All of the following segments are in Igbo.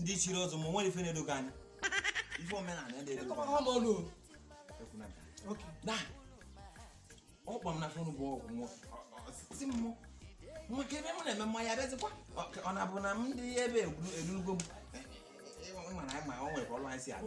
ndị chiri ọzọ ma nwere ife na-edo gị anya ife omenala ọ kpọọ m na fon bụ ọgwụ nwoke ebe m na-eme mmanya abịazikwa ọ na-abụ na m ndị ebe erugo m mana anyị ma ọ nwere ka ọlụ anyị si abụ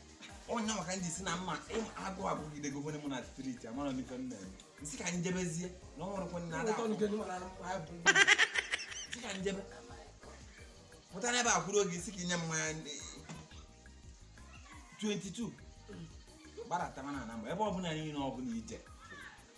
onye maka ndị sị na mma agụ agụgide gọvanọ mụ na street amara m ife m mere m sị ka m jebezie na ọ nwụrụkwa nna ada m sị ka m jebe pụta n'ebe a kwuru oge ị sị ka i nye mmanya 22 gbadata mana na mgbe ebe ọbụla niile ọbụla ije